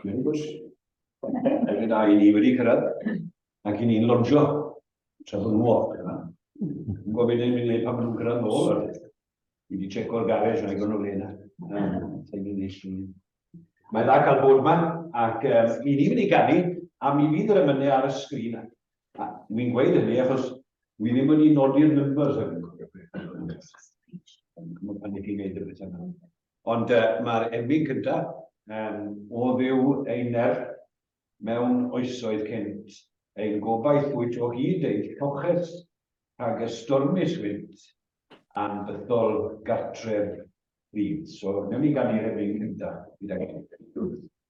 Mae'n gwrs. Fe da i ni wedi cyrraedd ac i ni'n lodjo tra bod nhw off yna. Yn gofyn i'n mynd pan maen nhw'n cyrraedd nôl. Fi wedi checo'r garej yn agor nhw le yna. Mae'n dda cael bod yma ac um, i ni wedi ganu a mi fydd yr ymynnu ar y sgrin A ni'n gweud hynny achos wi ddim wedi nodi'r numbers hyn yn cofio beth yn oed. Mae pan ni'n gwneud y beth yna. Ond uh, mae'r emyn cyntaf um, o ddiw ein nerth mewn oesoedd cynt, ein gobaith wyt o hyd ein lloches rhag y stormus wynt a'n bythol gartref rhyd. So, newn ni gan i'r emyn cyntaf gyda'i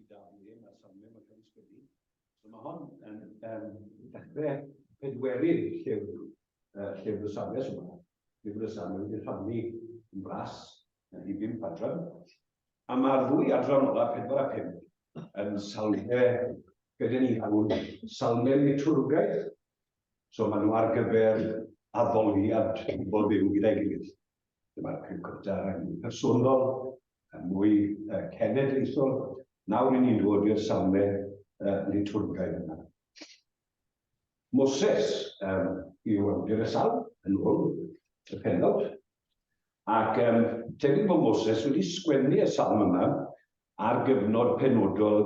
i dal i ddim, a safle mae'n cael ei sgwennu. So mae hon yn um, dechrau pedwerydd llyfr, uh, llyfr y safle sy'n yma. Llyfr y safle wedi rhannu yn bras yn hi ddim padran. A mae'r ddwy adran ola, pedwar a pum, yn salfe gyda ni hwn, salfe liturgaeth. So maen nhw ar gyfer addoliad pobl byw gyda'i gilydd. Dyma'r Cyfryngau yn fwy personol, yn mwy cenedlaethol. Nawr ry'n ni'n dod i'r safle litwrgaidd yma. Moses yw awdur y salm, yn ôl y pennawd, ac tebyg bod Moses wedi sgwennu y salm yma ar gyfnod penodol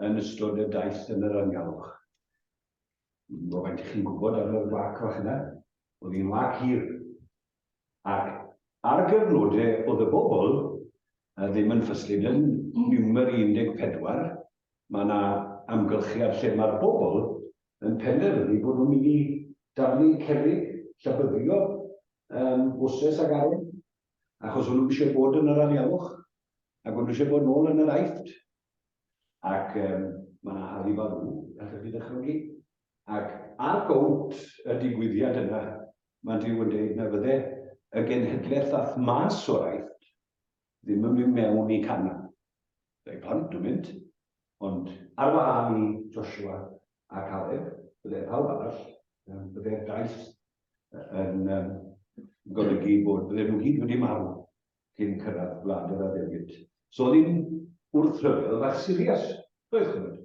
yn ystod y daith yn yr anialwch. Dwi'm yn gwybod faint 'ych chi'n gwybod am yr wâc fach yna. O'dd hi'n wâc hir. ac ar gyfnode o'dd y bobl ddim yn ffyslyd yn niwmer 14, ma' 'na amgylchiad lle ma'r bobl yn penderfynu bod nhw'n mynd i daflu cerrig llybyddio yym bwses ag arwyn, achos o'n nhw isio bod yn yr anialwch, ag o'n nhw isio bod nôl yn yr Aifft. Ac um, mae yna Harry Baloo, a chi ddychmygu. Ac ar gownt y digwyddiad yna, mae Dyw yn dweud na fydde y genhedlaeth ath mas o'r aifft ddim yn mynd mewn i canna. Fe plant yn mynd, ond ar wahân i Joshua a Caleb, bydde pawb arall, bydde'r daith yn um, golygu bod bydde nhw gyd wedi marw. cyn cyrraedd Gwlad yr Addewid. So oedd hi'n wrthryfel fach sirias, doedd, ch'mod.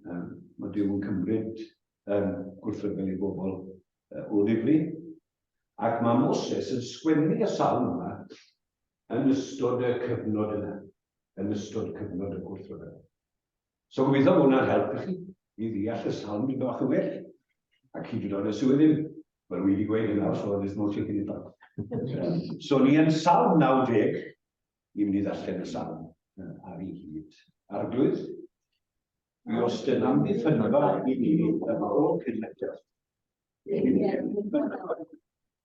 Yym, ma' Duw yn cymryd yym gwrthryfel i bobl yy o ddifri. Ac ma' Moses yn sgwennu y salm yma yn ystod y cyfnod yna, yn ystod cyfnod y gwrthryfel. So gobeithio bod hwnna'n helpu chi i ddeall y sawl mynd bach yn well. Ac hyd yn oed os yw e ddim, wel wi wedi gweud hynna, so there's no taking it back. So ni yn salm 90, ni'n mynd i ddarllen y salm ar ei hyd. Arglwydd, mi os dyn am ddiffynfa i ni yn ôl cynnydd.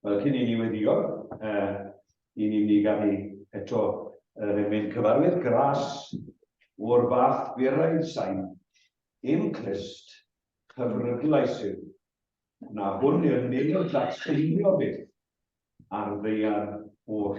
Wel, cyn i ni weddio, uh, i ni ni gael ei eto uh, mynd cyfarwydd gras o'r fath gwirau sain, dim clust, cyfrydlais yw, na hwn i'r nid o ddatseilio byth ar ddeiar oll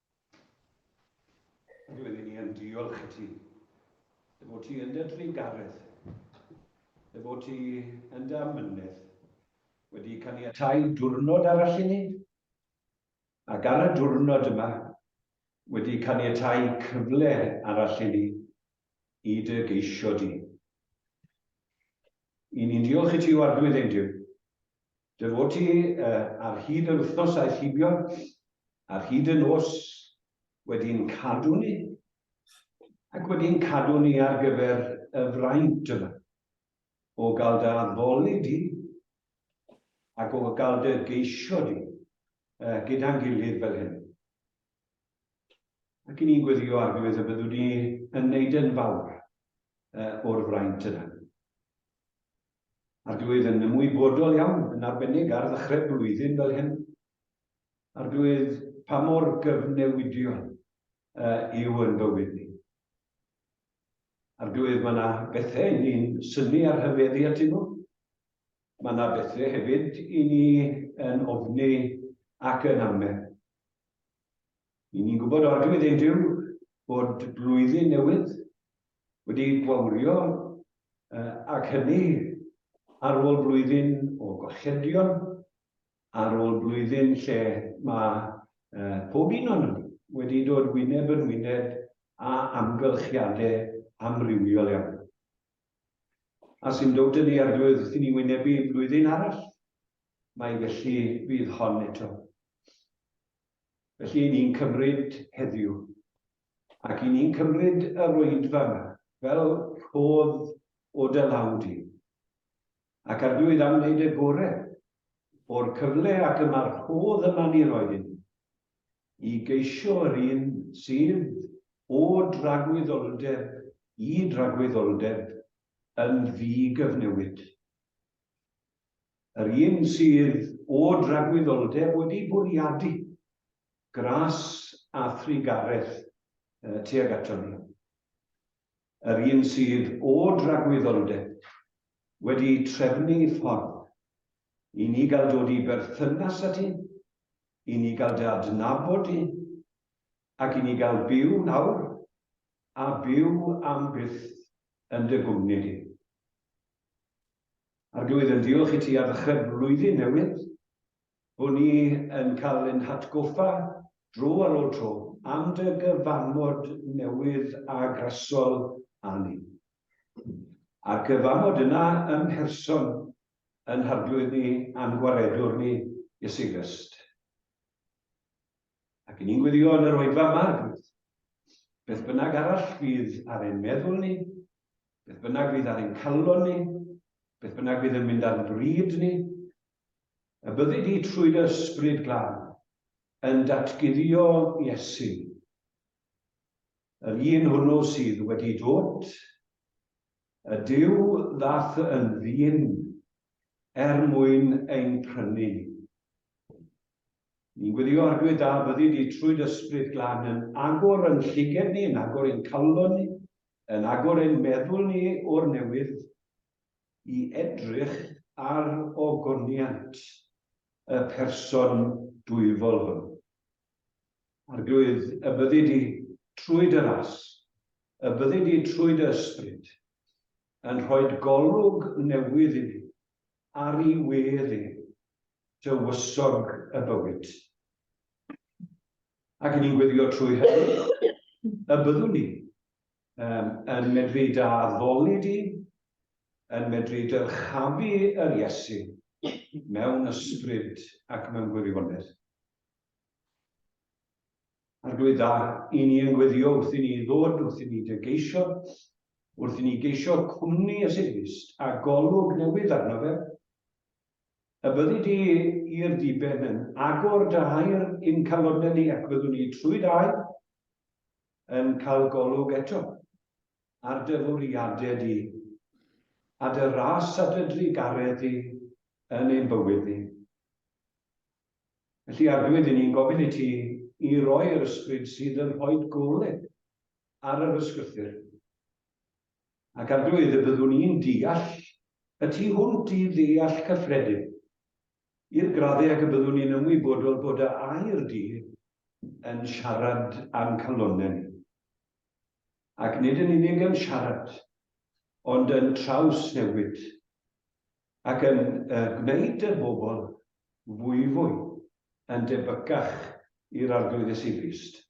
Roeddwn i yn diolch i ti. Dy fod ti yn dy drugaredd. Dy fod ti yn dy amynedd. Wedi caniatáu diwrnod arall i ni. Ac ar y diwrnod yma, wedi caniatáu cyfle arall i ni i dy geisio di. I ni'n diolch i ti o arglwydd ein Duw. Dy fod ti ar hyd yr wythnos aeth hibio, ar hyd y nos, wedi ein cadw ni, ac wedi ein cadw ni ar gyfer y fraint yma, o gael dy addoli di, ac o gael dy geisio di, uh, gyda'n gilydd fel hyn. Ac i ni'n gweddio ar gyfer y byddwn ni yn neud yn fawr uh, o'r fraint yna. Ar dwi oedd yn ymwybodol iawn, yn arbennig ar ddechrau blwyddyn fel hyn. Ar dwi oedd pa mor gyfnewidiol uh, yw yn bywyd ni. Ar dwi oedd mae yna bethau i ni'n syni ar hyfeddi atyn nhw. Mae yna bethau hefyd i ni yn ofni ac yn amau. Y'n ni'n gwybod oddi wrth ein Duw bod blwyddyn newydd wedi gwawrio ac hynny ar ôl blwyddyn o golledion, ar ôl blwyddyn lle mae pob un o'n wedi dod wyneb yn wyneb a amgylchiadau amrywiol iawn. A sy'n dod yn ei arglwydd wrth i ni wynebu blwyddyn arall, mai felly fydd hon eto. Felly, i ni'n cymryd heddiw, ac i ni'n cymryd yr oedfa yna, fel rhodd o dy law di, ac arglwydd am wneud y gore o'r cyfle ac y mae'r rhodd yma ni roi i ni, i geisio yr un sydd o dragwyddoldeb i dragwyddoldeb yn ddi-gyfnewid. Yr un sydd o dragwyddoldeb wedi bwriadu gras a thrugaredd tuag ato ni. Yr un sydd o dragwyddoldeb wedi trefnu ffordd i ni gael dod i berthynas â ti, i ni gael dy adnabod di, ac i ni gael byw nawr a byw am byth yn dy gwmni di. Arglwydd, yn diolch i ti ar ddechrau'r flwyddyn newydd, bod ni yn cael ein hatgoffa dro ar ôl tro am dy gyfamod newydd a grasol â ni. A'r cyfamod yna ym mherson yn Harglwydd ni a'n Gwaredwr ni, Iesu Grist. Ac ni'n gweddio yn yr oedfa yma, Arglwydd, beth bynnag arall fydd ar ein meddwl ni, Beth bynnag fydd ar ein calon ni, beth bynnag fydd yn mynd ar bryd ni, y byddi di trwy dy ysbryd glân yn datguddio Iesu, yr un hwnnw sydd wedi dod, y Dyw ddath yn ddyn er mwyn ein prynu. Ni'n gwirio Arglwydd da fyddi di trwy d'Ysbryd Glân yn agor yn lliged ni, yn agor ein calon ni, yn agor ein meddwl ni o'r newydd i edrych ar ogoniant y Person dwyfol hwn. Arglwydd, y byddi di trwy dy ras, y byddi di trwy dy Ysbryd yn rhoid golwg newydd i ni ar i wedd e, dywysog y bywyd. Ac yn ni'n gweddio trwy hynny y byddwn ni um, yn medru da addoli di, yn medru dyrchafu yr Iesu mewn ysbryd ac mewn gwirionedd. Arglwydd da, i ni yn gweddio wrth i ni ddod, wrth i ni dy geisio, wrth i ni geisio cwmni y Segrist a golwg newydd arno fe, Y byddi di i'r diben yn agor dy hair i'n calonnau ni ac byddwn ni trwy dy air yn cael golwg eto ar dy fwriadau di a dy ras a dy drugaredd di yn ein bywyd ni. Felly, Arglwydd, i ni'n gofyn i ti i roi'r ysbryd sydd yn rhoi golwg ar yr ysgrythyr ac ar doedd y byddwn i'n deall y tu hwnt i ddeall cyffredin, i'r graddau ag y byddwn i'n ymwybodol bod y air du yn siarad a'n calonnau ni. Ac nid yn unig yn siarad, ond yn trawsnewid, ac yn y gwneud y bobl fwyfwy yn debycach i'r Arglwydd Iesu Grist.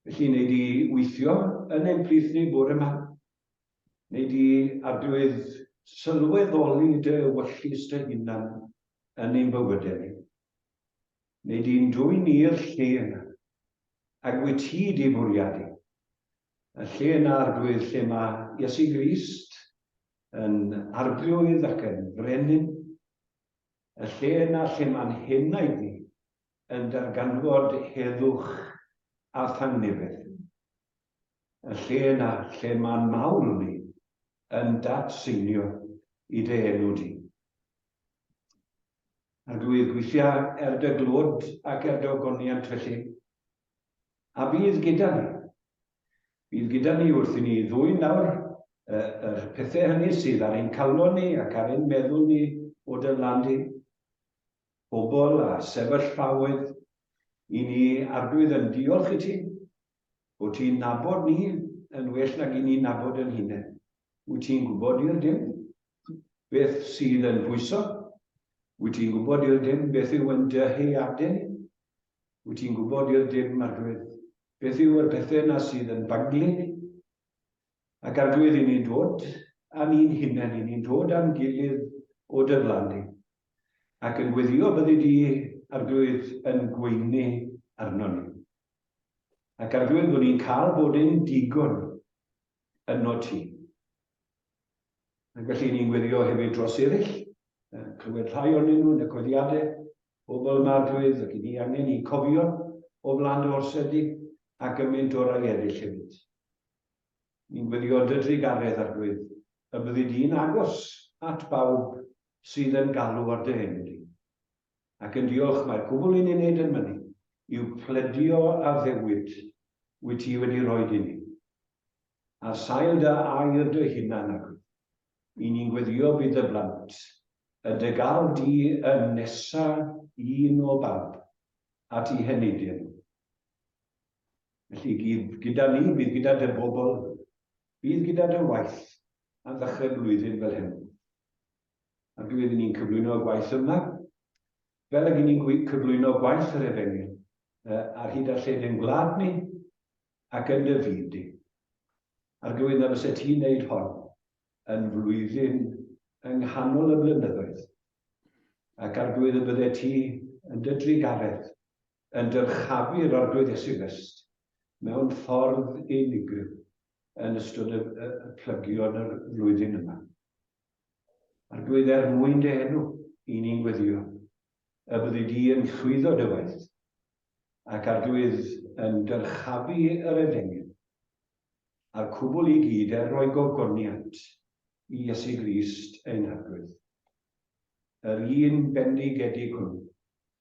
Felly, wnei di weithio yn ein plith ni bore 'ma? Wnei di adwydd sylweddoli dy ewyllys dy hunan yn ein bywydau ni? Wnei di'n dwyn ni'r lle yna, ag wyt ti di bwriadu, y lle yna arglwydd lle mae Iesu Grist yn arglwydd ac yn frenin, y lle yna lle mae'n henaid ni yn darganfod heddwch a thangnefedd. Y lle yna lle ma'n mawl ni yn dad-seinio i dy enw di. Arglwydd, gweithia er dy glod ac er dy ogoniant felly, a bydd gyda ni. Bydd gyda ni wrth i ni ddwyn nawr y, yr pethau hynny sydd ar ein calon ni ac ar ein meddwl ni o dy lan di. pobl a sefyllfaoedd, i ni, Arglwydd, yn diolch i ti bod ti'n nabod ni yn well nag i ni nabod yn hunain. Wyt ti'n gwybod i'r dim beth sydd yn pwyso? Wyt ti'n gwybod i'r dim beth yw yn dy heiadau ni? Wyt ti'n gwybod i'r dim, Arglwydd, beth yw yr pethau na sydd yn baglu ni? Ac Arglwydd, 'y ni'n dod â ni'n hunain, 'y ni'n dod â'n gilydd o dy flaen di, ac yn gweddïo byddi di, Arglwydd, yn gweini arnon ni. Ac Arglwydd, bod ni'n cael bod yn digon yno ti. Ac felly ni'n gweddïo hefyd dros eraill, clywed rhai onyn nhw yn y coediadau, pobl yma Arglwydd, ac i ni angen i cofio o flaen dy orsedd di, ac yn mynd orau eraill hefyd. Ni'n gwylio dy drugaredd, Arglwydd, y byddi di'n agos at bawb sydd yn galw ar dy enw di. Ac yn diolch, mae'r cwbl i ni'n neud yn mynnu yw pledio addewid wyt ti wedi rhoid i ni. Ar sail dy air dy hunan, Arglwydd, i ni'n gweddio bydd dy blant, y dy galw di yn nesa un o bawb at i heneidio nhw. Felly gyd gyda ni, bydd gyda dy bobl, bydd gyda dy waith am ddechrau'r flwyddyn fel hyn. A dwi iddyn ni'n cyflwyno y gwaith yma, fel ag ni'n cyflwyno gwaith yr efengyl, ar hyd a lled yn gwlad ni ac yn dy fyd di. Ar gywydd na fysa ti'n neud hon yn flwyddyn yng nghanol y blynyddoedd, ac ar gywydd y bydde ti yn dy drugaredd yn dyrchafu'r Arglwydd Iesu Grist mewn ffordd unigryw yn ystod y, y, y plygion yr flwyddyn yma. Arglwydd er mwyn dy enw, i ni'n gweddio, y byddu di yn llwyddo dy waith, ac Arglwydd yn dyrchafu yr efengyl, a'r cwbl i gyd er roi gogoniant i Iesu Grist ein Arglwydd. Yr un bendigedig hwnnw,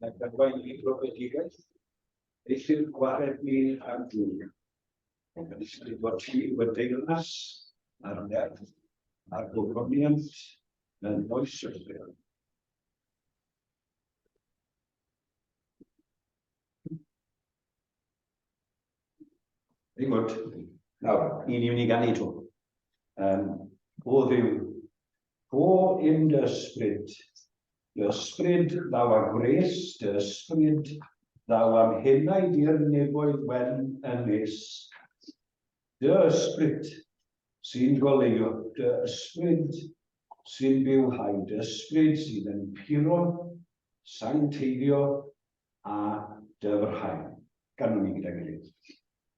na gadwain i brofedigaeth, eithyr gwared mi ar dŵr. Yn ysgrif fod ti wedi deyrnas a'r nerth a'r gofroniant yn oes o'r fel. Very good. Nawr, un i wni gan i to. Um, o ddiw, Go in dy ysbryd, dy ysbryd ddaw a gwres, dy ysbryd ddaw am henaid i'r nefoedd wen yn nes. Dy ysbryd sy'n goleuo, dy ysbryd sy'n byw hau, dy ysbryd sydd yn puro, sancteiddio a dyfrhau. Ganwn ni gyda'n gilydd.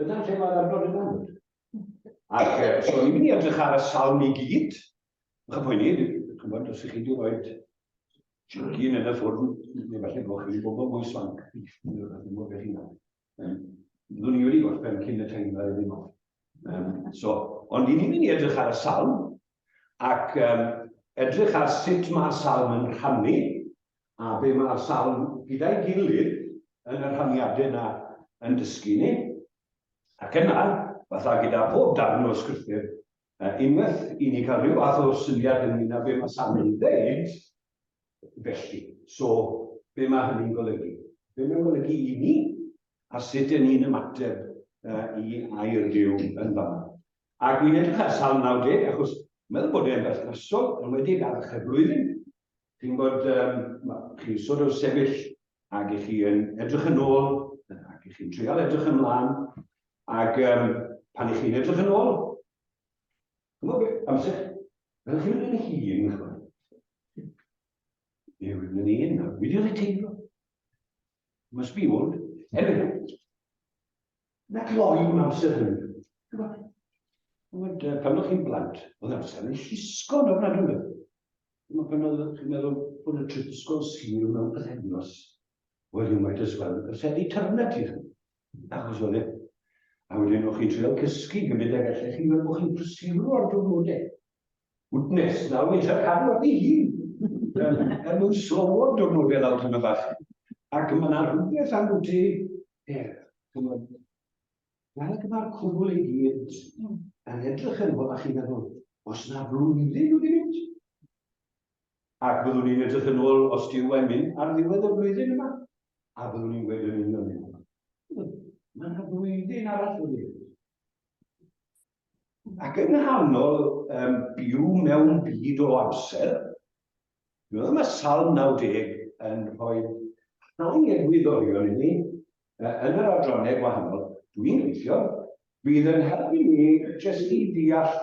Dyna lle mae'r adnod yn amlwg. Ac e, os o'n i'n mynd i edrych ar y salm i gyd, yn chi'n poeni, dwi'n gwybod os ych chi wedi rhoi chicken yn y ffwrn, neu falle bod chi'n bobl mwy swanc, neu rhywbeth yn gwybod beth chi'n gwneud. Um, Byddwn i wedi gorffen cyn y teimlo ar ddim off. Um, so, ond i ni'n mynd i edrych ar y salm, ac um, edrych ar sut mae'r salm yn rhannu A be mae'r salm gyda'i gilydd yn y rhaniadau yna yn dysgu ni? Ac yna, fatha gyda phob darn o scriptur, unwaith i ni cael rhyw fath o syniad ynglyn â be mae salm yn dweud, felly, so, be mae hynny'n golygu? Be mae'n golygu i ni? A sut dyn ni'n ymateb i air Duw yn fama? Ac wi'n edrych ar salm 90, achos meddwl bod e'n berthnasol, yn wedi ag archeb blwyddyn, Chi'n bod, chi'n sort of sefyll ac i chi yn edrych yn ôl ac i chi'n trial edrych yn mlaen ac um, pan i chi'n edrych yn ôl, chymod beth, amser, fel chi'n mynd yn hun, chymod. Neu rwy'n mynd un, a wedi oedd y teimlo. Must be old. Anyway, Na gloi mewn amser hynny. Ond uh, pan o'ch chi'n blant, oedd amser yn llusgo yn ofnadwy. Ond pan oedd chi'n meddwl bod y trip ysgol sir mewn pythefnos, well, you might as well have said eternity. Achos oedd e. A wedyn o'ch chi'n treol cysgu gymryd ag allech chi fel bod chi'n prysuro ar diwrnodau. Goodness, nawr fi'n trio cadw at ei hun, er mwyn slowo'r diwrnodau lawr tymed bach. Ac mae yna rhywbeth am bwyty er, chymod, fel ac mae'r cwbl ei gyd yn edrych yn ôl a chi'n meddwl, os na flwyddyn wedi mynd, ac byddwn ni'n edrych yn ôl os dyw e'n mynd ar ddiwedd y flwyddyn yma, a byddwn ni'n gweud yn union hyn. Mae yna flwyddyn arall wedi mynd. Ac yng nghanol um, byw mewn byd o amser, dwi'n meddwl mae Salm 90 yn rhoi rhai egwyddorion i ni yn yr adrannau gwahanol. Dwi'n gweithio, bydd yn helpu ni jyst i ddeall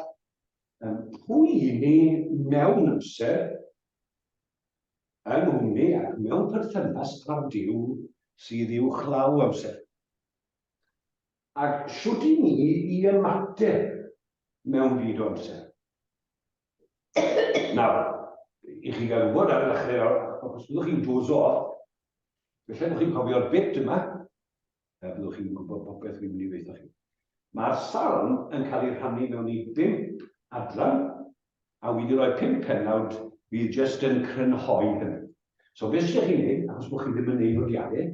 um, pwy i ni mewn amser yn hwni ac mewn perthynas â'r Dyw sydd i'w chlaw amser. Ac shwt i ni i ymateb mewn byd o amser? Nawr, i chi gael gwybod ar y ddechrau nawr, ac os byddwch chi'n dozo off, felly bod chi'n cofio'r bit yma, a byddwch chi'n gwybod popeth fi'n mynd i ddeitha chi. Mae'r salm yn cael ei rhannu mewn i bimp adran, a wi wedi rhoi pimp pennawd fydd jyst yn crynhoi hynny. So beth sydd chi'n ei wneud, achos bod chi ddim yn ei nodiadau,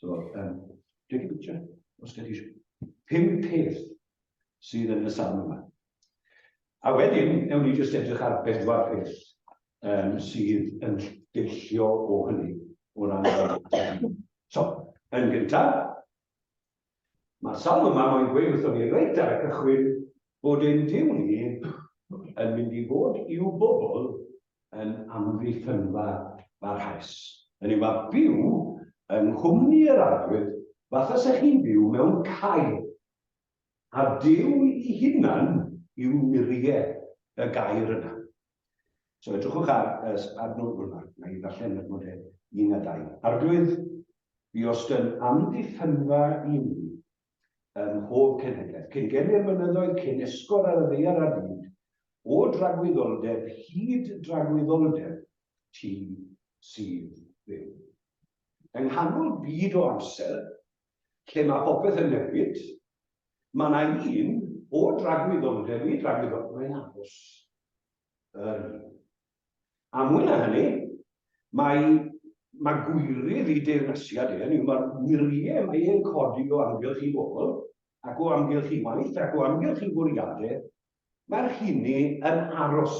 So, um, dwi'n gwybod bwtio, os gen ti pum peth sydd yn y safon yma. A wedyn, ewn ni jyst edrych ar bedwar peth um, sydd yn deillio o hynny o ran So, yn gyntaf, Mae'r salm yma moyn gweud wrthon ni reit ar y cychwyn bod ein Duw ni yn mynd i fod i'w bobl yn amddiffynfa barhaus, hynny yw, â byw yng nghwmni yr arglwydd fatha 'se chi'n byw mewn cae, a Duw 'i hunan yw muriau y gair yna. So edrychwch ar y adnod hwn ac na i ddarllen yr nodau un a dau. Arglwydd, fi os dyn amddiffynfa i mi ym mhob cenhedlaeth, cyn gem i'r mynyddoedd, cyn esgor ar y ddeiar ar fyd, o dragwyddoldeb hyd dragwyddoldeb, ti sydd byw. Yng nghanol byd o amser, lle mae popeth yn newid, mae na un o dragwyddon, dewi dragwyddon, mae'n aros yr un. A mwy na hynny, mae, mae gwyrydd i deyrnasiad e, hynny mae'r wyriau mae e'n codi o amgylch i bobl, ac o amgylch i waith, ac o amgylch i fwriadau, mae'r hynny yn aros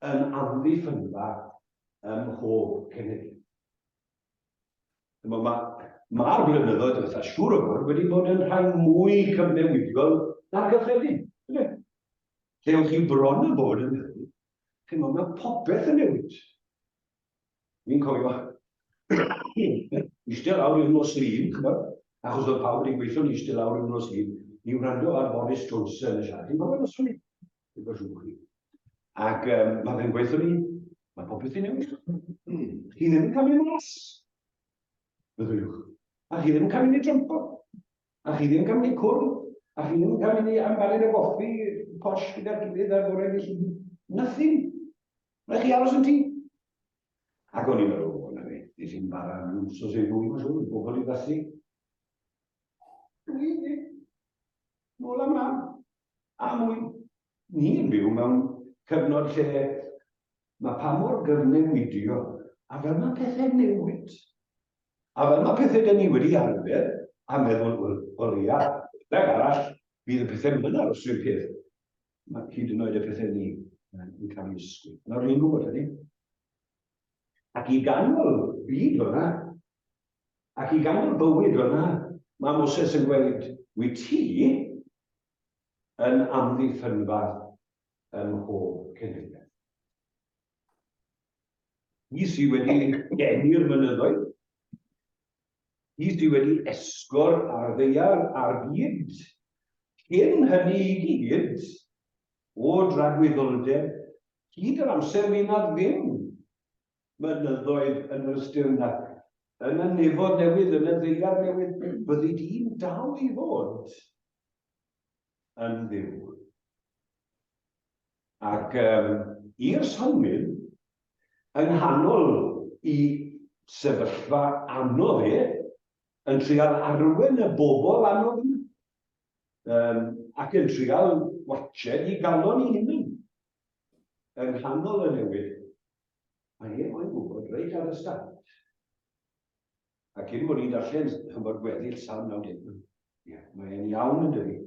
yn amddiffynfa ym mhob cenedl. Mae'r ma, ma blynyddoedd diwethaf siŵr o fod wedi bod yn rhai mwy cyfnewidiol na'r gyffredin. Lle ywch chi bron a bod yn meddwl, chi'n meddwl, mae popeth yn newid. Mi'n cofio eistedd lawr i'r nos lun, chymod, achos oedd pawb wedi'n gweithio'n eistedd lawr i'r nos lun i wrando ar Boris Johnson y siarad. Chi'n cofio nos lun? Ac um, mae fe'n gweithio ni, mae popeth i newid. Chi ddim yn cael ei mas. Fyddwch. A chi ddim yn cael ei drympo. A chi ddim yn cael ei cwrdd. A chi ddim yn cael ei ambalu y goffi posh gyda'r gilydd ar gorau i chi. Nothing. Mae chi aros yn ti. Ac o'n i'n meddwl, o, na fe, nes i'n bara yn wsos ei fwy, mae'n siŵr, bobl i ddasu. Dwi, nôl am ran. A mwy, ni'n byw mewn cyfnod lle mae pa mor gyfnewidio a fel mae pethau'n newid. A fel mae pethau dyn ni wedi arfer a meddwl, wel, o leia, rhag arall, bydd y pethau yn aros rhywun peth. Mae hyd yn oed y pethau ni yn cael ei ysgwyl. Nawr ni'n gwybod hynny. Ac i ganol byd o'na, Ac i gael bywyd fyna, mae Moses yn gweud, Wyt ti yn amddiffynfa ym mhob cenhedlaeth. Hi sydd wedi deni'r mynyddoedd, hi sydd wedi esgor ar ddeiar ar byd, cyn hynny i gyd, o dragwyddoldeb, hyd yr amser fydd na ddim mynyddoedd yn yr Stirnach, yn y Nefoedd Newydd, yn y Ddeiar Newydd, byddi di'n dal i fod yn fyw. Ac um, i'r synwyr, yng nghanol i sefyllfa anodd e, yn trial arwen y bobl anodd yma, um, ac yn trial watched i galon i hynny, yng nghanol y newid, Mae e moyn gwybod reit ar y start. A cyn bod ni'n darllen, chymod, gweddill Salm 90. Ie, mae e'n iawn yn dydi.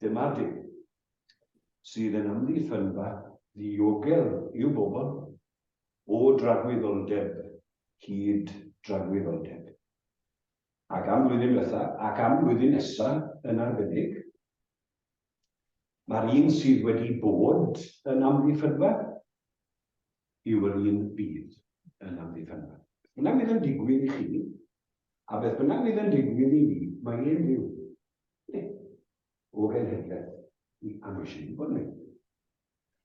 Dyma Duw sydd yn amddiffynfa ddiogel i'w bobl o dragwyddoldeb hyd dragwyddoldeb. Ac am flwyddyn diwetha, ac am flwyddyn nesa yn arbennig, Mae'r un sydd wedi bod yn amddiffynfa yw'r un fydd yn amddiffynfa. Beth bynnag fydd yn digwydd i chi, a beth bynnag fydd yn digwydd i ni, mae e'n fyw. Ne, o genhedlaeth i a mae eisiau ni bod yn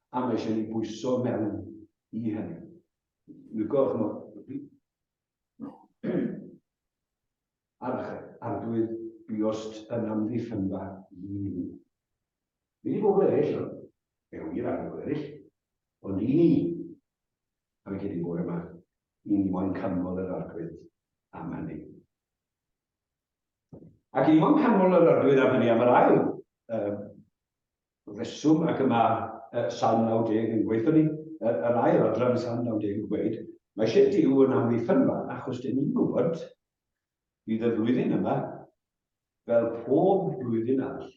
A mae eisiau ni bwyso mewn i hynny. Dwi'n gwybod, chymod, Arch arglwydd biost yn amddiffynfa un i mi. Nid i bobl eraill, ond fe wir ar bobl eraill, ond i ni. Am y cedyn bore yma, i ni mo'n canmol yr arglwydd am hynny. Ac i ni mo'n canmol yr arglwydd am hynny am yr ail um, reswm ac y mae yy Salm 90 yn gweud hynny, yr, yr ail adran yn Salm 90 yn gweud, mae eisiau Dyw yn amddiffyn fan, achos dyn ni'n gwybod, bydd y flwyddyn yma, fel pob blwyddyn arall,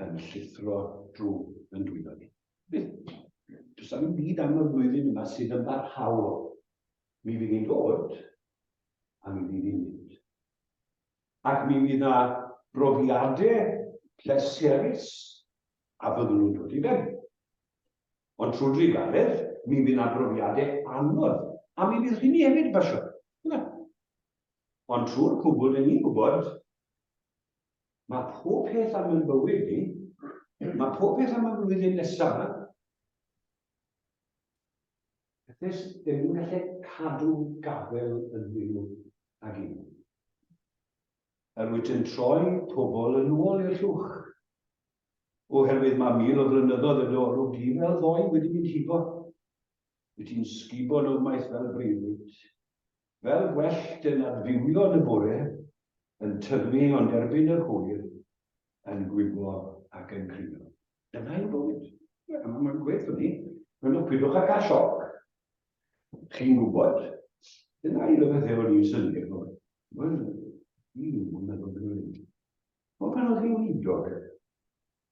yn llithro drwy yn dwylo ni. Bydd. Does am byd am y flwyddyn yma sydd yn barhaol. Mi fydd ni'n dod, a mi fydd ni'n mynd. ac mi fydd 'na brofiade pleserus a fyddwn nhw'n dod i ben. Ond trwy drugaredd, mi fydd 'na brofiade anodd, a mi fydd rhini hefyd yn pasio. Yna. Ond trwy'r cwbl, dyn ni'n gwybod, mae pob peth am yn bywyd ni, mae pob peth am y flwyddyn nesaf, Does dim yn gallu cadw gafael yn fyw ag un. Yr wyt yn troi pobl yn ôl i'r llwch. Oherwydd mae mil o flynyddoedd y dorw di fel ddoe wedi mynd hibo. Wyt ti'n sgubo nofmaeth fel breuddwyd. Fel gwellt yn adfywiol y bore, yn tyfu ond erbyn yr hwyr, yn gwiblo ac yn crio. Dyna yw bywyd. Ie, mae'n ma gwell o ni. Mae'n o pidwch â cael sioc. Chi'n gwybod, dyna un o bethau o'n i'n synnu ar ddod. Wel, un mlynedd yn ôl. Ond pan oedd hi'n wydog,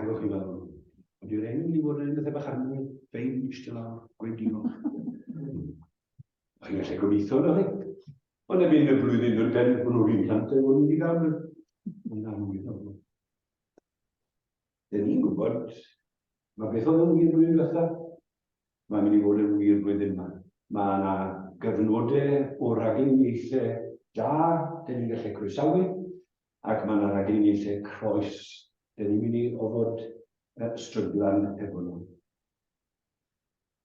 Agwch i lawr. Ond yw'r enw ni fod yn bethau bach anwyl, fein, eistedd lawr, gweud diolch. Mae hi'n gallu gobeithio na chi. Ond erbyn y blwyddyn yn ben, hwnnw fi'n plant e, hwnnw wedi gael yn anwyl o. Dyn ni'n gwybod, mae beth oedd yn wir blwyddyn diwetha, mae'n mynd i fod yn wir blwyddyn yma. Mae yna gyfnodau o raglen ieithau da, dyn ni'n gallu croesawu, Ac mae 'na raglen eitha croes, dan ni'n mynd i ofod stryglan efo nhw.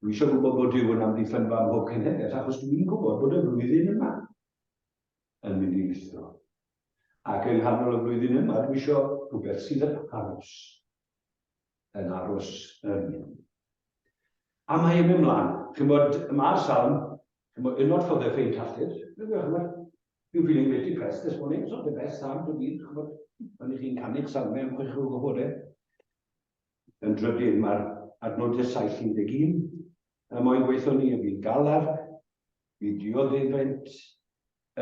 Dwi eisiau gwybod bod Duw yn amddiffynfa ym mhob cenhedlaeth, achos dwi'n gwybod bod y flwyddyn yma yn mynd i lithro. Ac yng nghanol y flwyddyn yma, dwi eisiau rhywbeth sydd yn aros. yn aros yn. A mae e'n mynd mlaen. Chymod, mae'r salm, chymod, yn not for the faint hearted. Chymod, you're feeling a bit depressed this morning, it's not the best salm to read, chymod. Ond i chi'n canu'r salmau am chwech o bore. Yn drydydd, mae'r adnodau 711. Y moyn gweithio ni, y fi'n galar, fi dioddefaint,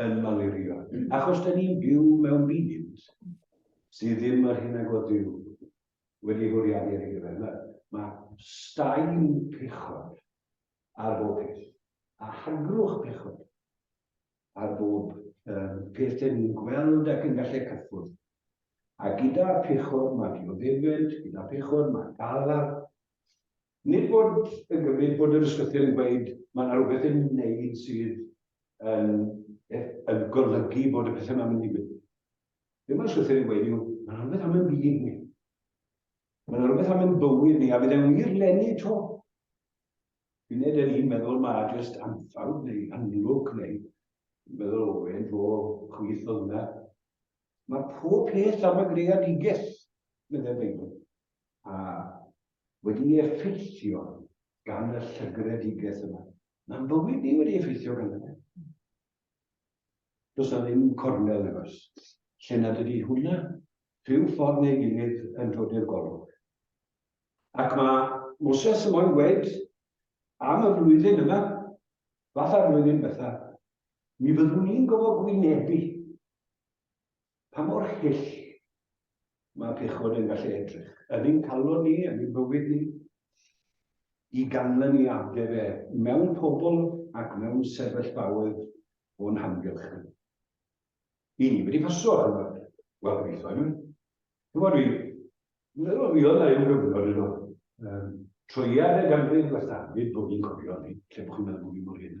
yn malirio, achos da ni'n byw mewn byd sydd ddim yr hyn a god Duw wedi hwriadu ar ei gyfer. Mae, mae staen pechod ar bob peth, a hargrwch pechod ar bob um, peth da ni'n gweld ac yn gallu cyffwrdd. A gyda pechod mae dioddefaint, gyda pechod mae galar, Nid bod yn gymryd bod yr ysbyty'n gweud mae yna rhywbeth i'w wneud sydd yn yn golygu bod y pethau yma'n mynd i ddigwydd. Be mae'r ysbyty'n ei gweud yw, mae yna rhywbeth am yn byd ni. Mae yna rhywbeth am yn bywyd ni, a bydd e'n wir lenni to. Fi'n neud yn un meddwl mae jyst anffawd neu anlwc neu meddwl o e'n fo chwith oedd yna. Mae pob peth am y greadigaeth, meddai'r Beibl. A wedi'i effeithio gan y llygredigaeth yma. Mae'n bywyd ni wedi effeithio gan yna. Does na ddim cornel nag oes. Lle nad ydy hwnna, rhyw ffordd neu gilydd yn dod i'r golwg. Ac mae Moses yn moyn gweud am y flwyddyn yma, fatha'r flwyddyn betha, mi fyddwn ni'n gofod gwynebu pa mor hyll mae pechod yn gallu edrych, yn ein calon ni, yn ein bywyd ni, i ganlyniadau fe mewn pobl ac mewn sefyllfaoedd o'n hamgylch ni. I ni wedi pasio ar yma, wel, gobeithio i mi. Dwi'n meddwl, meddwl fi oedd na yw gyfnod yno. Um, troiad y ganrif gwella, fyd bod ni'n cofio ni, lle bod chi'n meddwl bod ni'n mor hyn.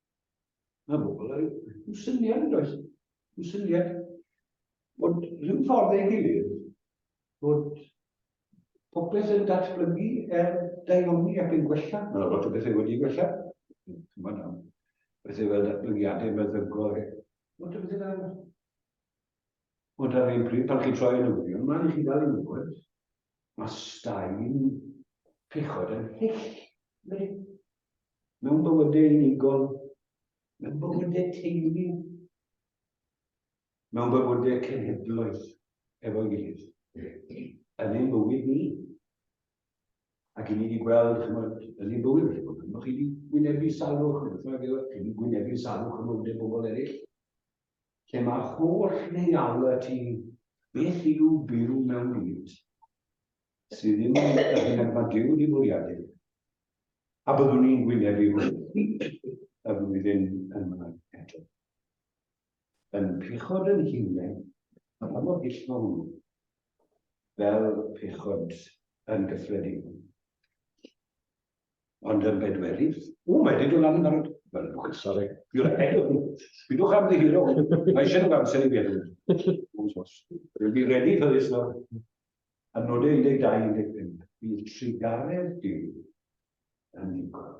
Mae pobl yn syniad yn does. Yn syniad bod rhyw ffordd ei gilydd bod popeth yn datblygu er daioni ac yn gwella. Mae lot o bethau wedi gwella. Mae yna bethau fel datblygiadau meddygol. Lot o bethau fel Ond ar un pryd, pan chi'n troi yn ymwneud, mae'n i chi gael yn gwybod, mae staen pechod yn hyll. mewn bywydau unigol, mewn bywydau teulu, mewn bywydau cenhedloedd efo'i gilydd, yn ein bywyd ni. Ac i ni wedi gweld, chymod, yn ein bywyd wedi bod, mae chi wedi gwynebu salwch, neu beth bynnag, chi wedi gwynebu salwch yn ôl bobl eraill, lle mae'r holl neialau ti beth yw byw mewn byd sydd ddim yn yr hyn ac mae Duw wedi bwriadu, a byddwn ni'n gwynebu hwnnw y flwyddyn yma eto. Yn pechod yn hunain, a pa mor hyll mae hwnnw, fel pechod yn gyffredinol. Ond yn bedwerydd, o, mae wedi dod lan yn barod. Mae'n bwch, sori. You're ahead of me. Bidwch am ddihiro. Mae eisiau nhw'n amser i feddwl. Rwy'n redi ffyrus nawr. Yn nod 1125, bydd trugaredd Duw yn ddigon.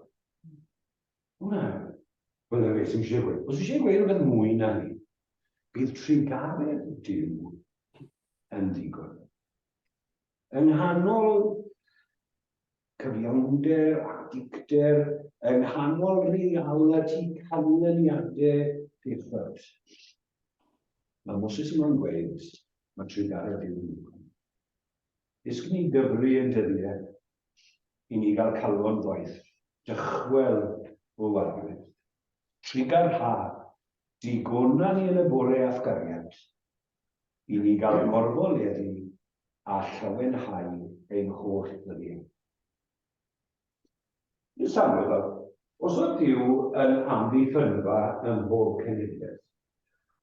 Hwna, hwnna beth sy'n eisiau gweud. Os eisiau gweud rhywbeth mwy na ni, bydd trugaredd Duw yn ddigon. Yng nghanol cyfiawnder a dicter, yng nghanol reality canlyniadau pethau. Mae Moses yma'n gweud, Mae trugaredd i'w wneud. Ysg ni gyfri yn dyddiau i ni gael calon gwaith, dychwel o wargryd. Trugar ha, digona ni yn y bore a'th gariad, i ni gael morfo leddi a llawenhau ein holl ddyddiau. Miss Amlwg, os ydyw yn amddiffynfa ym mhob cenedlaeth,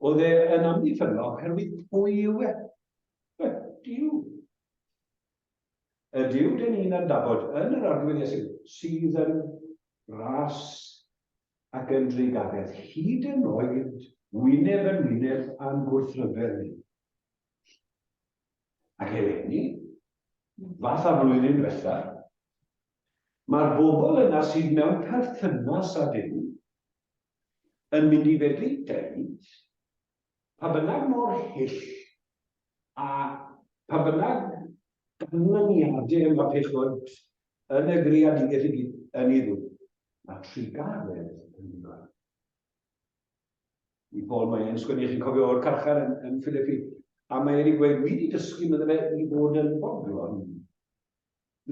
oedd e yn amddiffynfa oherwydd pwy yw e? Ydyw. Ydyw, dyn ni'n adnabod yn yr arglwyddiaeth sydd, sydd yn ras ac yn drugaredd, hyd yn oed wyneb yn wyneb a'n gwrthryfel ni. Ac eleni, fatha flwyddyn diwetha, mae'r bobl yna sydd mewn perthynas â Duw yn mynd i fedru deud, pa bynnag mor hyll a pa bynnag ganlyniadau mae pechod yn y greadigaeth yn ei ddwyn, mae trugaredd yn ddigon. I Paul mae e'n sgwennu, chi'n cofio o'r carchar yn, yn Philippi, a mae e'n gweud, wi wedi dysgu meddwl fe i fod yn bodlon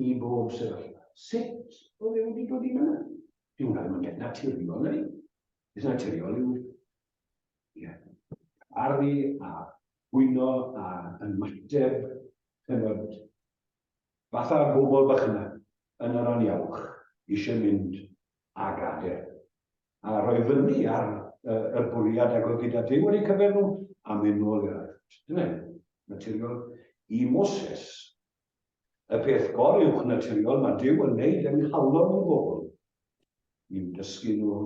i bob sefyllfa. Sut oedd e wedi dod i fyna? Dwi'n gwneud yn beth naturiol, neu? Beth naturiol yw, ie, arfi a hwyno a yn mateb, yn fod fatha bobl bach yna, yn yr aniawch, eisiau mynd a gadael. A rhoi fyny ar uh, y bwriad ag oedd gyda Dyw wedi cyfer nhw a mynd nôl i'r Egypt. Dyna'n naturiol i Moses. Y peth gor uwch naturiol mae Dyw yn neud yng nghalon nhw'n bobl. Ni'n dysgu nhw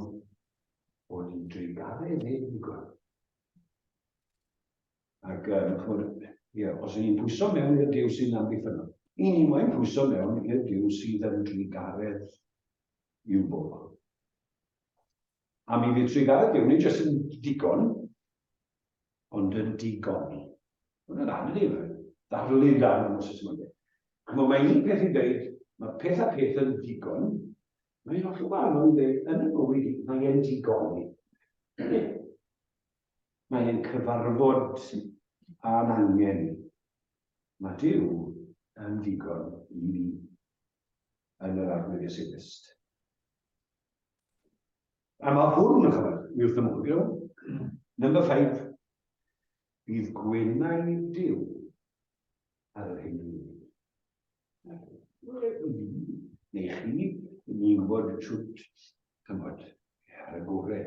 bod ni'n dreigaredd ei ddigon. Ac um, chymod, ie, os y'n ni'n pwyso mewn i'r diw sy'n amddiffynol, i ni moyn pwyso mewn i'r diw sydd yn drigaredd i'w bobl. A mi fydd trigaredd diw ni jyst yn digon, ond yn digon ni. Mae'n yn anodd i fe, ddarlun dan yn ôl mwyn. Cymru, mae un peth i ddeud, mae peth a peth yn digon, mae'n holl o anodd i ddeud, yn y bywyd i, mae'n digon ni. mae ein cyfarfod a'n angen ni. Mae Duw yn ddigon i ni yn yr Arglwydd Iesu Grist. A mae hwn, yn chymryd, mi wrth ymwylio. Number five, bydd gwenau Duw ar yr hyn ni. Neu chi, ni'n gwybod y trwt, chymryd, ar y gorau.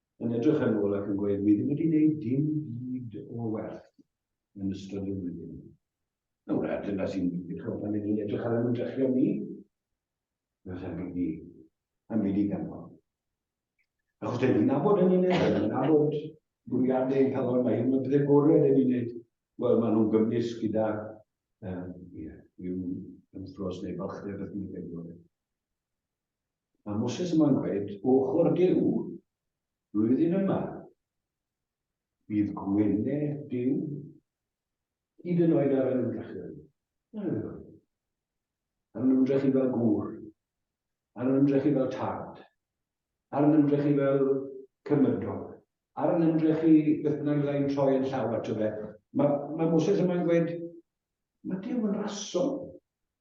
yn edrych yn ôl ac yn gweud, mi ddim wedi gwneud dim byd o werth yn ystod y flwyddyn. Nawr, a dyna sy'n ddechrau pan ydyn ni'n edrych ar ymdrechion ni, does am byd i, am byd i ganfod. Achos dyn ni'n nabod yn ni'n edrych, yn nabod bwriadau ein calon, mae hyn yn bydde gorau yn ni'n edrych, wel, maen nhw'n gymwys gyda, um, yeah, yw ymffros neu balchdeb beth ni'n edrych. Mae Moses yma'n gweud, O ochr Duw, flwyddyn yma, bydd gweled Duw, hyd yn oed ar yr ymdrechu. Ar yr Ar yn ymdrechu fel gŵr, ar yn ymdrechu fel tad, ar yn ymdrechu fel cymydog, ar yn ymdrechu beth bynnag fyddai'n troi yn llaw ato fe. Mae, mae Moses yma'n gweud, mae Duw yn raso.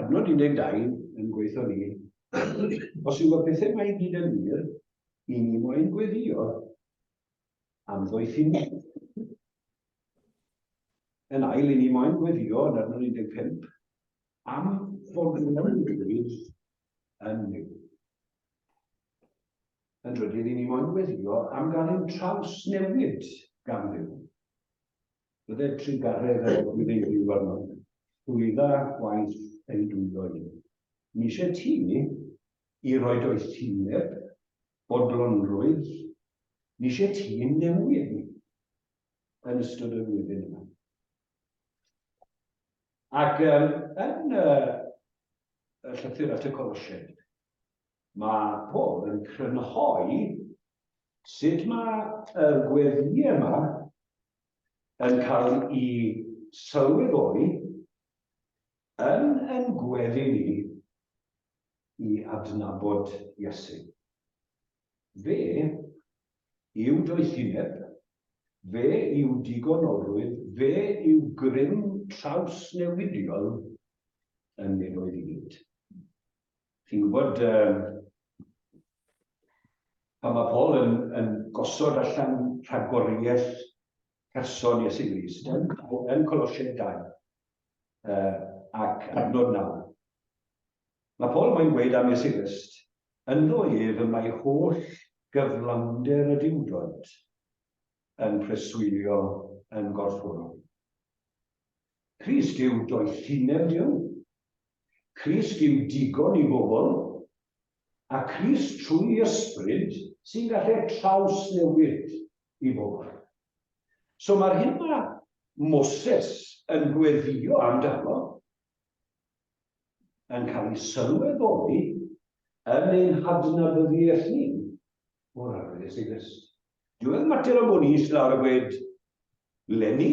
Adnod 12 yn gweithio ni. Os yw y pethau mae i gyd yn wir, i ni moyn gweddio am ddoethineb. Yn ail, i ni moyn gweddio yn adnod 15 am fod yn ymwneud yn ni. Yn drydydd, i ni moyn gweddio am gael ein traws newid gan ddim. Bydded trugaredd ar ôl iddi fyw arno. Llwydda gwaith ei dwyddo i. Ni eisiau ti i roi doethineb, bodlonrwydd, ni eisiau ti yn newid ni yn ystod y flwyddyn yma. Ac um, yn uh, y llythyr at y Colosiaid, mae Paul yn crynhoi sut mae y gweddi yma yn cael i sylweddoli yn ein gweddi ni i adnabod Iesu. Fe yw doethineb, fe yw digonolrwydd, fe yw grym trawsnewidiol yn nefoedd i gyd. Chi'n gwybod, um, pan mae Paul yn, yn gosod allan rhagoriaeth person Iesu Grist yn, yn Colosiaid 2 uh, ac adnod 9. Mae Paul mae'n gweud am Iesu Grist, ynddo ef y mae holl gyflawnder y diwdod yn preswylio yn gorfforol. Crist yw doethineb Duw. Crist yw digon i bobl. A Crist trwy ysbryd sy'n gallu'r trawsnewid i bobl. So mae'r hyn mae Moses yn gweddio amdano yn cael ei sylweddoli yn ein hadnabyddiaeth ni o'r arwydd Iesu Grist. Dyw e'n mater o bod ni eistedd lawr a gweud, Lenny,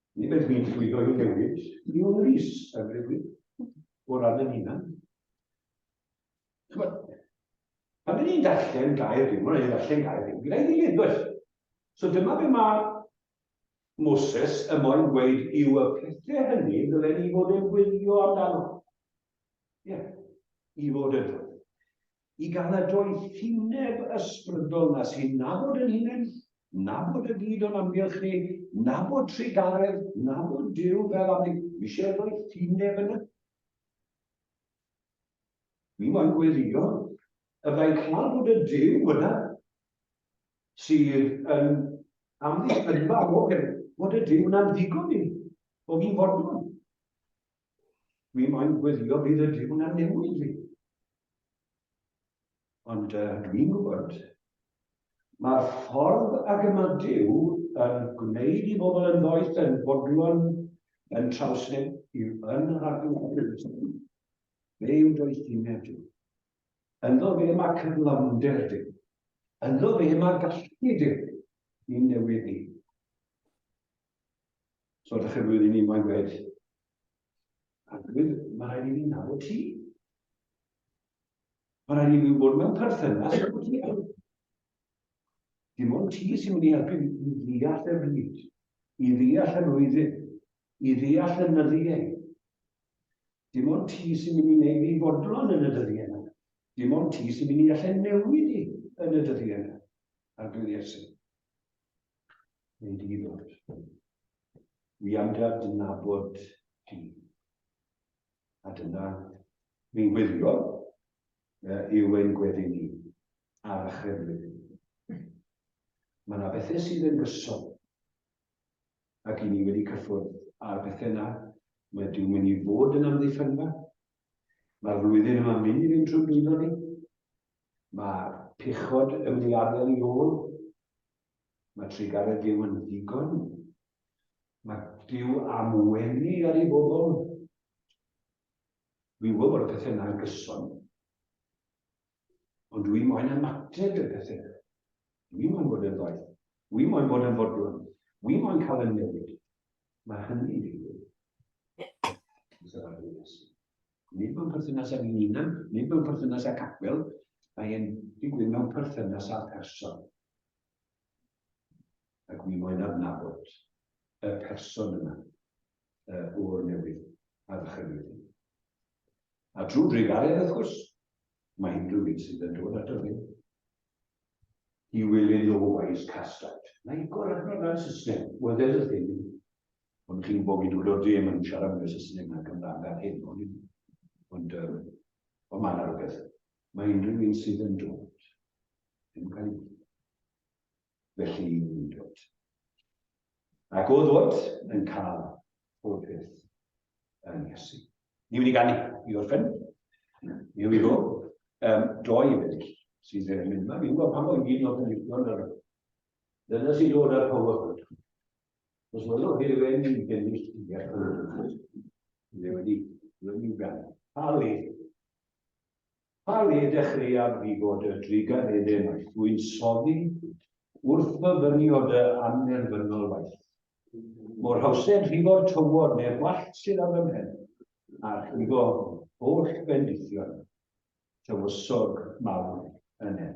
Nid ydw i'n llwyddo i ddewis Liwn Rhys yn rhywun o ran yn hunan. Chymod, pan ydyn ni'n darllen gair Duw, mae'n rhaid darllen gair Duw gyda'i gilydd, does? So dyma be mae Moses y moyn gweud yw y pethau hynny ddylen ni fod yn gwylio amdano. Ie, yeah. i fod yn dod. i gael y doethineb ysbrydol 'na sy'n nabod yn hunain, nabod y byd o'n amgylch ni, nabod trugaredd, nabod Duw fel am ni. Dwi eisiau doethineb yn y Mi moyn gweddio y byddai'n cael bod y Duw yna sydd yn amddiffynfa o hyn, bod y Duw yna'n ddigon i, o fi'n fodlon. Mi moyn gwylio bydd y diwn yn newid fi. Ond uh, dwi'n gwybod, mae'r ffordd ag yma Dyw yn gwneud i bobl yn ddoeth yn bodlon yn trawsneb i'w yn yr adnodus. Fe yw doethineb Dyw. Ynddo fe mae cyflawnder Dyw. Ynddo fe mae gallu Dyw i newid ni. So, ydych chi'n rwy'n i ni moyn gwed? A dwi'n, mae rhaid i ni nawr ti. Mae rhaid i ni fod mewn perthynas efo ti. Dim ond ti sy'n mynd i helpu i ddeall y bryd, i ddeall yr oedden, i ddeall y nyddiau. Dim ond ti sy'n mynd i wneud i fodlon yn y dyddiau yna. Dim ond ti sy'n mynd i allu newid i yn y dyddiau yna. Ar glwydd Iesu. Neu di ddod. Wi am dy adnabod di. A dyna fi'n gwylio uh, yw ein gweddi ni ar y chreflu. Mae yna bethau sydd yn gyson. Ac i ni wedi cyffwrdd ar bethau yna, mae diw'n mynd i fod yn amddiffynfa. Mae'r flwyddyn yma'n mynd i fynd trwy bwydo ni. Mae pechod yn mynd i adael i ôl Mae trugaredd Duw yn ddigon. Mae Duw am wenu ar ei bobl. Dwi'n gwybod bod y pethau yna'n gyson. Ond dwi'n moyn ymateb i'r pethau yna. Dwi'n moyn bod yn ddoeth. Dwi'n moyn bod yn fodlon. Dwi'n moyn cael y newid. Mae hynny'n digwydd. Nid mewn perthynas â ni'n unan, nid mewn perthynas â capel, mae'n digwydd mewn perthynas â person. Ac mi moyn adnabod y person yma uh, o'r newydd a ddychynwyd ni. A drwy drigalen, wrth gwrs, mae unrhyw un sydd yn dod at ni. He will in no wise cast out. Mae igor arno na Saesneg, oedd e'r ddim. Ond chi'n gwybod fi dod o'r ddim yn siarad yn y Saesneg na'n Gymraeg ar hyn, ond, ond, um, ond mae'n arfer. Mae unrhyw un sydd yn dod yn cael ei wneud. Felly i ni'n dod. Ac o ddod yn cael pob peth yn Iesu. Ni wedi ganu i orffen. Ni wedi go. Um, doi weddill sydd yn mynd yma. Fi'n gwybod pan o'n i'n oedd yn licio ar Dyna sy'n dod ar power hwn. Os mae'n o'n hyn yn i'n bennill i Ni wedi, ni wedi ganu. Pa le? Pa le dechreuaf di fod y trigan eden waith dwi'n soddi wrth fy fynio dy annerfynol waith. Mor hawsed rhifo'r tywod neu'r wallt sydd ar fy mhen, a rhigo holl bendithion tywysog mawr yn en.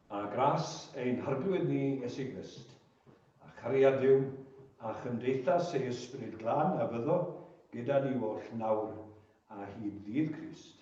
A gras ein harglwydd ni Iesu Grist, a chariad Duw, a chymdeithas ei Ysbryd Glân a fyddo gyda ni oll nawr a hyd ddydd Crist.